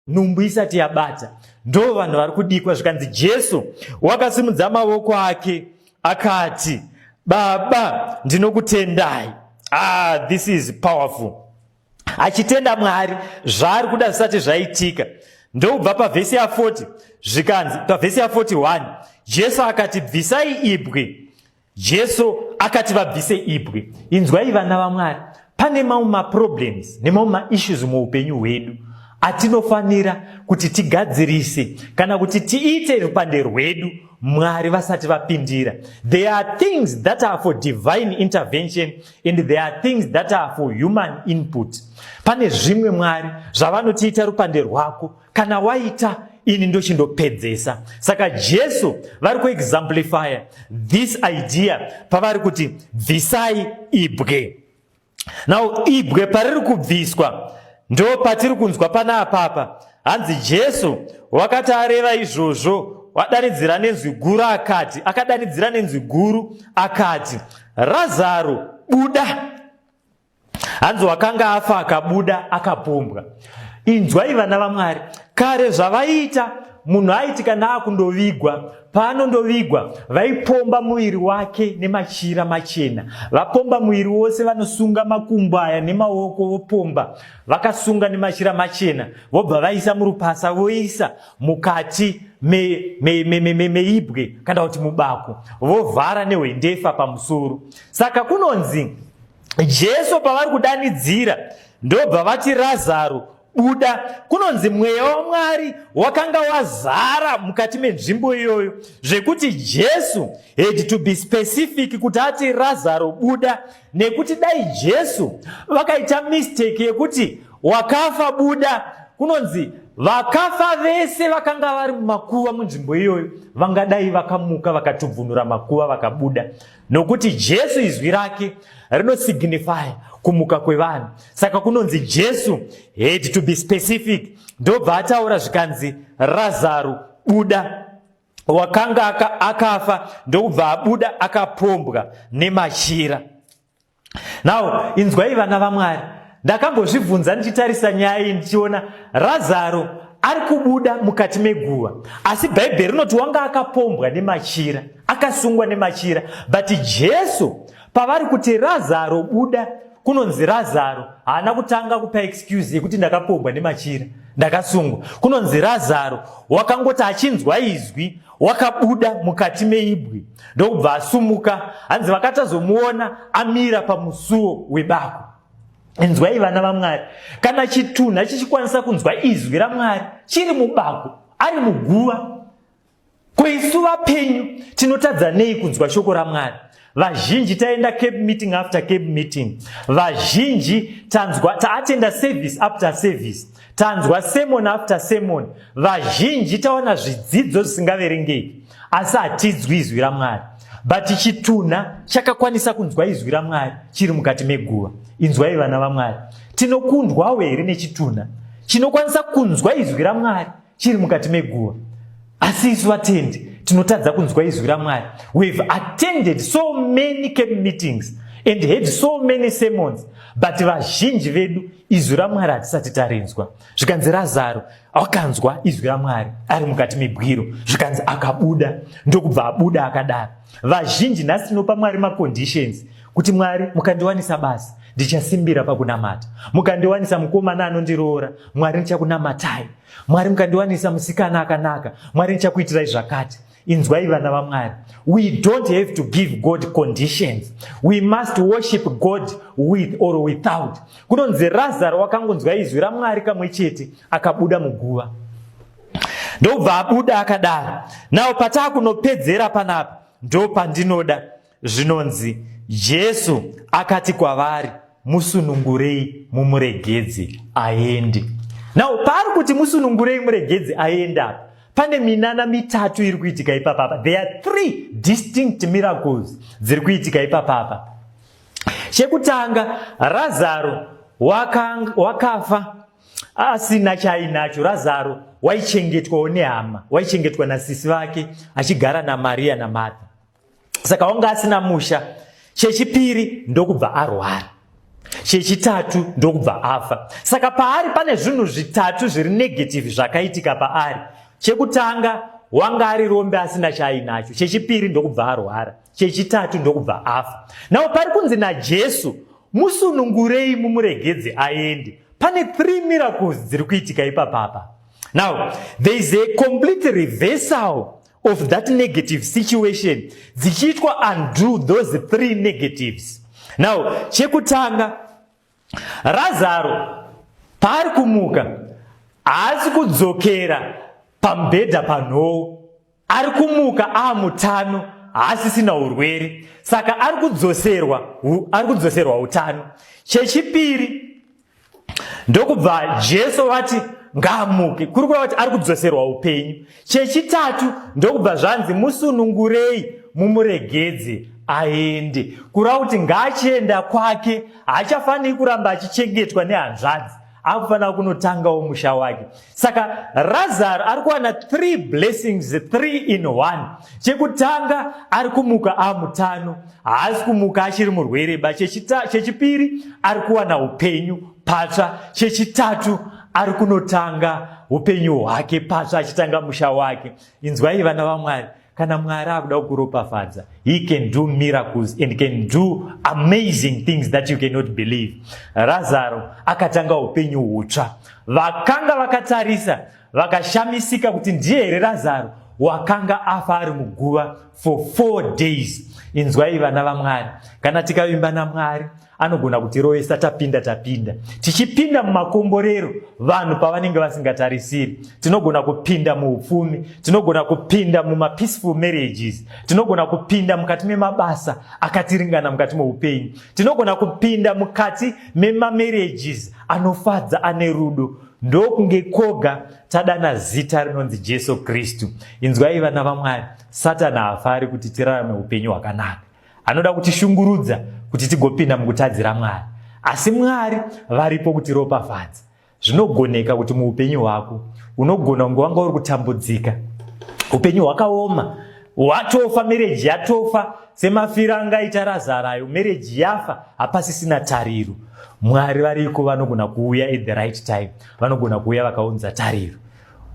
nhumbu isati yabata ndo vanhu vari kudikwa zvikanzi jesu wakasimudza mavoko ake akati baba ndinokutendai ah this is powerful achitenda mwari zvaari kuda zvisati zvaitika ndokubva pavhesi ya40 zvikanzi pavhesi ya41 jesu akati bvisai ibwe Jesu akati vabvise ibwe. Inzwai vana vaMwari, pane mamwe maproblems nemamwe maissues muupenyu hwedu atinofanira kuti tigadzirise kana kuti tiite rupande rwedu mwari vasati vapindira there are things that are for divine intervention and there are things that are for human input pane zvimwe mwari zvavanotiita rupande rwako kana waita ini ndochindopedzesa saka jesu vari kuexamplifya this idea pavari kuti bvisai ibwe now ibwe pariri kubviswa ndo patiri kunzwa pana apapa hanzi jesu wakati areva izvozvo wadanidzira nenzwi guru akati akadanidzira nenzwi guru akati razaro buda hanzi wakanga afa akabuda akapombwa inzwai vana vamwari kare zvavaiita munhu aiti kana akundovigwa paanondovigwa vaipomba muviri wake nemachira machena vapomba muviri wose vanosunga makumbo aya nemaoko vopomba vakasunga nemachira machena vobva vaisa murupasa voisa mukati meibwe kana kuti mubako vovhara nehwendefa pamusoro saka kunonzi jesu pavari kudanidzira ndobva vati razaro buda kunonzi mweya wamwari wakanga wazara mukati menzvimbo iyoyo zvekuti jesu had to be specific kuti ati razaro buda nekuti dai jesu vakaita mistake yekuti wakafa buda kunonzi vakafa vese vakanga vari mumakuva munzvimbo iyoyo vangadai vakamuka vakatubvunura makuva vakabuda nokuti Jesu izwi rake rinosignify kumuka kwevanhu saka kunonzi Jesu had to be specific ndobva ataura zvikanzi Razaro buda wakanga akafa ndokubva abuda akapombwa nemachira now inzwai vana vamwari ndakambozvibvunza ndichitarisa nyaya iyi ndichiona razaro ari kubuda mukati meguva asi bhaibheri rinoti wanga akapombwa nemachira akasungwa nemachira but jesu pavari kuti razaro buda kunonzi razaro haana kutanga kupa excuse yekuti ndakapombwa nemachira ndakasungwa kunonzi razaro wakangoti achinzwa izwi wakabuda mukati meibwi ndokubva asumuka hanzi vakatazomuona amira pamusuwo webako inzwai vana vamwari kana chitunha chichikwanisa kunzwa izwi ramwari chiri mubako ari muguva ko isu vapenyu tinotadza nei kunzwa shoko ramwari vazhinji taenda cap meeting after cap meeting vazhinji tanzwa taatenda service after service tanzwa semon after semon vazhinji taona zvidzidzo zvisingaverengeki asi hatidzwi izwi ramwari but chitunha chakakwanisa kunzwa izwi ramwari chiri mukati meguva inzwai vana vamwari tinokundwawo here nechitunha chinokwanisa kunzwa izwi ramwari chiri mukati meguva asi isu vatendi tinotadza kunzwa izwi ramwari we have attended so many camp meetings and heard so many sermons but vazhinji vedu izwi ramwari hatisati tarinzwa zvikanzi razaro akanzwa izwi ramwari ari mukati mebwiro zvikanzi akabuda ndokubva abuda akadaro vazhinji nhasi tinopa mwari maconditions kuti mwari mukandiwanisa basa ndichasimbira pakunamata mukandiwanisa mukomana anondiroora mwari ndichakunamatai mwari mukandiwanisa musikana akanaka mwari ndichakuitirai zvakati inzwai vana vamwari we don't have to give god conditions we must worship god with or without kunonzi razaro wakangonzwa izwi ramwari kamwe chete akabuda muguva ndobva abuda akadaro nawo pataa kunopedzera panapa ndopandinoda Zvinonzi, Jesu akati kwavari, Musunungurei mumuregedze aende. Now, paari kuti musunungurei muregedze aende apa, pane minana mitatu iri kuitika ipapa apa. There are three distinct miracles dziri kuitika ipapa apa. Chekutanga, Razaro wakafa asina chaainacho. Razaro waichengetwawo nehama, waichengetwa nasisi vake achigara naMariya naMartha. saka wanga asina musha chechipiri ndokubva arwara chechitatu ndokubva afa saka paari pane zvinhu zvitatu zviri negative zvakaitika paari chekutanga wanga ari rombe asina chaainacho chechipiri ndokubva arwara chechitatu ndokubva afa nawo pari kunzi najesu musunungurei mumuregedze aende pane three miracles dziri kuitika ipapapa now there is a complete reversal of that negative situation dzichiitwa undo those three negatives now chekutanga razaro paari kumuka haasi kudzokera pamubhedha panhoo ari kumuka aamutano haasisina urwere saka ari kudzoserwa ari kudzoserwa utano chechipiri ndokubva jesu vati ngaamuke kuri kureva kuti ari kudzoserwa upenyu chechitatu ndokubva zvanzi musunungurei mumuregedze aende kureva kuti ngaachienda kwake haachafaniri kuramba achichengetwa nehanzvadzi akufanira kunotangawo musha wake saka razaro ari kuwana three blessings three in one chekutanga ari kumuka amutano haasi kumuka achiri murwereba chechipiri ari kuwana upenyu patsva chechitatu ari kunotanga upenyu hwake patsva achitanga musha wake inzwai vana vamwari kana mwari akuda kukuropafadza he can do miracles and can do amazing things that you cannot believe razaro akatanga upenyu hutsva vakanga vakatarisa vakashamisika kuti ndiye here razaro wakanga afa ari muguva for four days inzwai vana vamwari kana tikavimba namwari anogona kutirovesa tapinda tapinda tichipinda mumakomborero vanhu pavanenge vasingatarisiri tinogona kupinda muupfumi tinogona kupinda mumapeaceful marriages tinogona kupinda mukati memabasa akatiringana mukati meupenyu tinogona kupinda mukati memamarriages anofadza ane rudo ndokunge koga tadana zita rinonzi jesu kristu inzwai vana vamwari satani haafari kuti tirarame upenyu hwakanaka Anoda kutishungurudza kuti tigopinda mukutadzira Mwari. Asi Mwari varipo kutiropafadza. Zvinogoneka kuti muupenyu hwako unogona kunge wanga uri kutambudzika. Upenyu hwakaoma, watofa, mereji yatofa, semafira angaita razara ayo, mereji yafa, hapasisina tariro. Mwari variko vanogona kuuya at the right time, vanogona kuuya vakaunza tariro.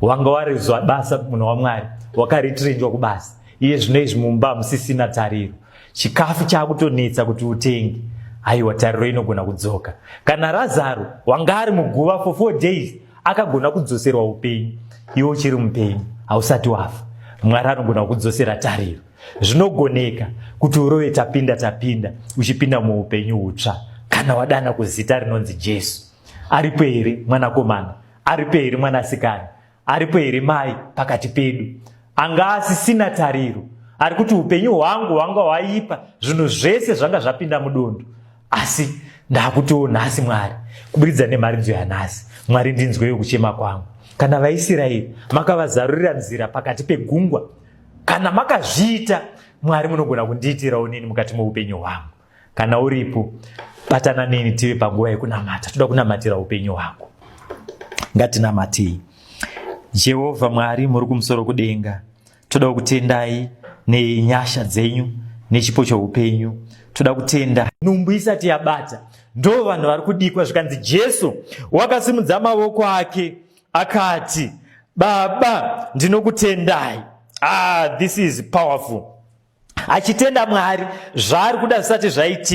wanga warizwa basa munhu wamwari wakaritirinjwa kubasa iye zvino izvi mumba hamusisina tariro chikafu chaakutonetsa kuti utenge haiwa tariro inogona kudzoka kana razaro wanga ari muguva for four days akagona kudzoserwa upenyu iwe uchiri mupenyu hausati wafa mwari anogona kukudzosera tariro zvinogoneka kuti urove tapinda tapinda uchipinda muupenyu hutsva kana wadana kuzita rinonzi jesu aripo here mwanakomana Aripo here mwanasikana? Aripo here mai pakati pedu? Anga asisina tariro. Ari kuti upenyu hwangu hwanga hwaipa, zvinhu zvese zvanga zvapinda mudondo. Asi ndakutiwo nhasi Mwari, kuburidza nemharidzo yanhasi, Mwari ndinzweyo kuchema kwangu. Kana vaIsiraeri makavazarurira nzira pakati pegungwa, kana makazviita, Mwari munogona kundiitirawo nini mukati moupenyu hwangu. kana uripo batana neni tive panguva yekunamata toda kunamatira upenyu hwako ngatinamatei jehovha mwari muri kumusoro kudenga toda kutendai nenyasha dzenyu nechipo choupenyu toda kutenda nhumbu isati yabata ndo vanhu vari kudikwa zvikanzi jesu wakasimudza mavoko ake akati baba ndinokutendai ah this is powerful achitenda mwari zvaari kuda zvisati zvaitika